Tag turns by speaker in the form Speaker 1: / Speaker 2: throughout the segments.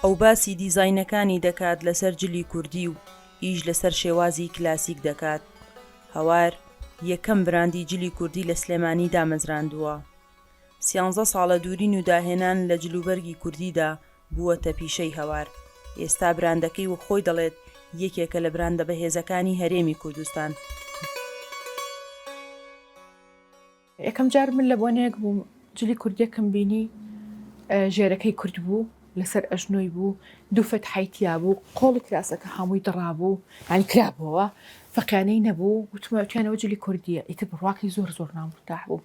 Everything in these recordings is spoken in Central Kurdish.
Speaker 1: ئەو باسی دیزاینەکانی دەکات لەسەر جلی کوردی و ئیش لەسەر شێوازی کلاسیک دەکات. هەوار یەکەم براندی جلی کوردی لە سلێمانی دامەزراندووە. سیانزە ساڵە دوورین و داهێنان لە جلوبەرگی کوردیدا بووەتە پیشەی هەوار، ئێستا براندەکەی وەک خۆی دەڵێت یەکێکە لە براندە بەهێزەکانی هەرێمی کوردستان.
Speaker 2: یەکەم جار من لە بۆنەیەک بووم جلی کوردیەکم بینی ژێرەکەی کورت بوو لەسەر ئەژنۆی بوو دوو فەتحای تیابوو قۆڵی کراسەکە هەمووی دڕابوو یانی کرابووەوە فەقیانەی نەبوو وتم ئەتویان ئەوە جلی کوردیە ئیتر بڕواکەی زۆر زۆر نامرتاح بووم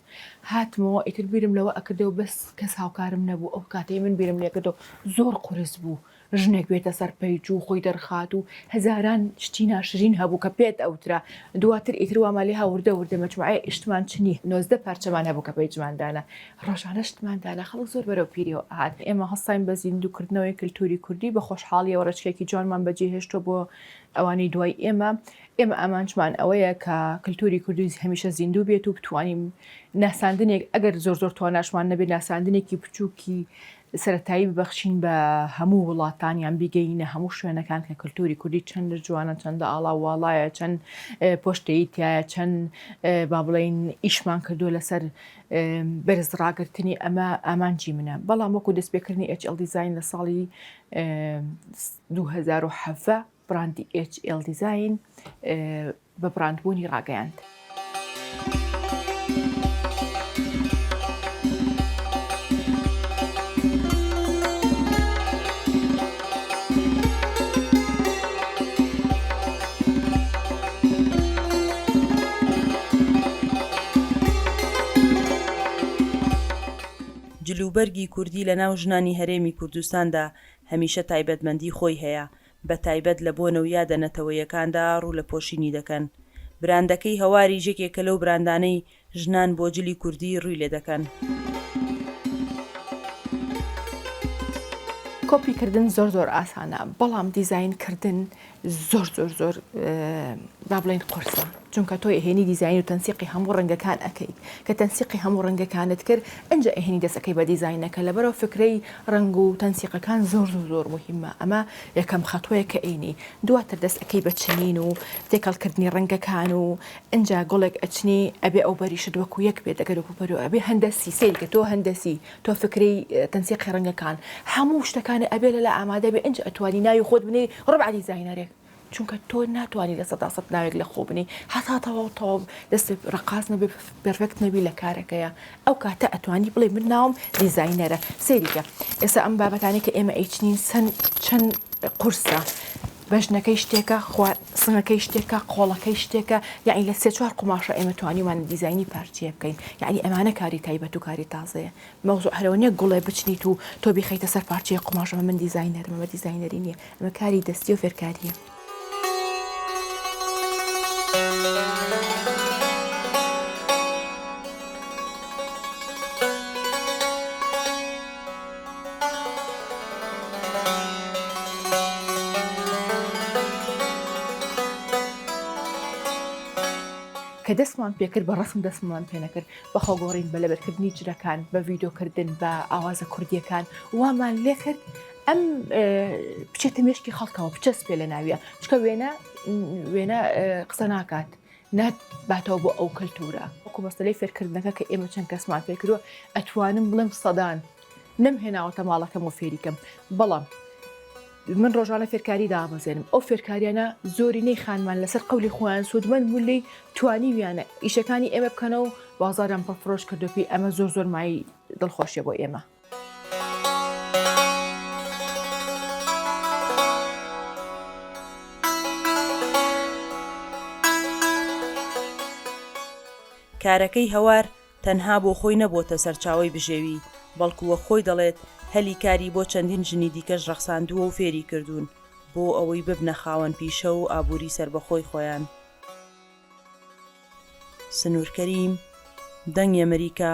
Speaker 2: هاتمەوە ئیتر بیرم لەوە ئەکردەوە بەس کەس هاوکارم نەبوو ئەو کاتەی من بیرم لێکردەوە زۆر قورس بوو ژنێک بێتە سەر پەیج و خۆی دەرخات و هەزاران شتی ناشرین هەبوو کە پێت ئەوترا دواتر ئیتر وامان لێ هاوردە وردە مەجموعەیە ئیشتمان چنی نۆزدە پارچەمان هەبوو کە پەیجمان دانا ڕۆژانە شتمان دانا خەڵک زۆر بەرەو پیریەوە ئەهات ئێمە هەستاین بە زیندووکردنەوەی کلتوری کوردی بە خۆشحاڵیەوە ڕێچکێکی جوانمان بەجێهێشتووە بۆ ئەوانی دوای ئێمە، ئێمە ئامانجمان ئەوەیە کە کلتوری کوردی هەمیشە زیندوو بێت و بتوانین ناساندنێک ئەگەر زۆر زۆر تواناشمان نەبێت ناساندنێکی بچووکی سەتایی ببەخشین بە هەموو وڵاتان یان بیگەینە هەموو شوێنەکان کە کللتوری کوردی چەند جوانە چەندە ئاڵا واڵایە چەند پۆشتەی تایە چەند با بڵین ئیشمان کردو لەسەر بەرز ڕاگررتنی ئەمە ئامانجی منە بەڵام وەکو دەستپێکردنی ئەچڵ دیزین لە ساڵی دوو هەزار و حەڤدە بڕاندی ئێچ ئێڵ دیزاین بە بڕاندبوونی ڕاگەیاند.
Speaker 1: جلوبەرگی کوردی لەناو ژنانی هەرێمی کوردستاندا هەمیشە تایبەتمەندی خۆی هەیە، بە تایبەت لە بۆنە و یادە نەتەوەیەکاندا ڕوو لە پۆشینی دەکەن. براندەکەی هەواریش یەکێکە لەو براندانەی ژنان بۆ جلی کوردی ڕوی لێ دەکەن.
Speaker 2: کۆپی کردن زۆر زۆر ئاسانە بەڵام دیزاین کردن زۆر زۆر زۆر با بڵێین قورسە چونکە تۆ ئەهێنی دیزاین و تەنسیقی هەموو ڕەنگەکان ئەەکەیت کە تەنسیقی هەموو ڕەنگەکانت کرد ئەنج ئەهێنی دەسەکەی بە دیزینەکە لەبەرەوە فکرەی ڕنگ و تەنسیقەکان زۆر زۆر زۆر مهمە ئەمە یەکەم خەتوەیە کە ئەینی دواتر دەست ئەەکەی بە چنین و تێکەڵکردنی ڕەنگەکان و ئەجا گۆڵێک ئەچنی ئەبێ ئەو بەریشت وەکو یەک بێت دەگەر و پەرو ئەبێ هەندە سیسەیری کە تۆ هەندەسی تۆ فکرەی تەنسیقی ڕەنگەکان هەموو شتەکانە ئەبێ لەلا ئامادە بێ ئنج ئەتوانی ناوی خۆت بنێی ڕەبع دیزاینەرێک چونکە تۆ ناتوانی لە سەدا سەد ناوێک لە خۆ بنێی هەتا تەواو تەواو دەست ڕقاس نەبێ پێرفێکت نەبی لە کارەکەیە ئەو کاتە ئەتوانی بڵێ من ناوم دیزاینەرە سەیریکە ئێستا ئەم بابەتانی کە ئێمە ئەیچنین چەند چەند قورسە بەژنەکەی شتێکە، خوا سنگەکەی شتێکە، قۆڵەکەی شتێکە، یەعنی لە سێ چوار قوماشە ئێمە توانیومانە دیزاینی پارچەیە بکەین، یەعنی ئەمانە کاری تایبەت و کاری تازەیە، مەوزوع هەرەوە نییە گوڵێ بچنیت و تۆ بیخەیتە سەر پارچەیەک قوماشەوە من دیزاینەرم ئەمە دیزاینەری نییە ئەمە کاری دەستیە و فێرکارییە. کە دەستمان پێکرد بە ڕەسم دەستمان پێنەکرد بە خۆگۆڕین بە لەبەرکردنی جلەکان بە ڤیدۆکردن بە ئاوازە کوردیەکان وامان لێ کرد ئەم بچێتە مێشکی خەڵکەوە بچەس پێ لە ناویە چکە وێنە وێنە قسە ناکات نات باتەوە بۆ ئەو کەلتورە. وەکو مەسەلەی فێرکردنەکە کە ئێمە چەند کەسمان فێر کردووە ئەتوانم بڵێم سەدان نەم هێناوەتە ماڵەکەم و فێری کەم بەڵام من ڕۆژانە فێرکاری دابەزێنم ئەو فێرکاریانە زۆری نەی خانمان لەسەر قولی خۆیان سوودمەند بوو لی توانیویانە ئیشەکانی ئێمە بکەنەوە بازارم پڕفرۆش کردو پێی ئەمە زۆر زۆر مای دڵخۆشیە بۆ ئێمە.
Speaker 1: کارەکەی هەوار تەنها بۆ خۆی نەبۆتە سەرچاوەی بژێوی، بەڵکو وەک خۆی دەڵێت هەلی کاری بۆ چەندین ژنی دیکەش ڕەخساندووە و فێری کردوون بۆ ئەوەی ببنە خاوەن پیشە و ئابووری سەربەخۆی خۆیان. سنوور کەریم، دەنگی ئەمەریکا،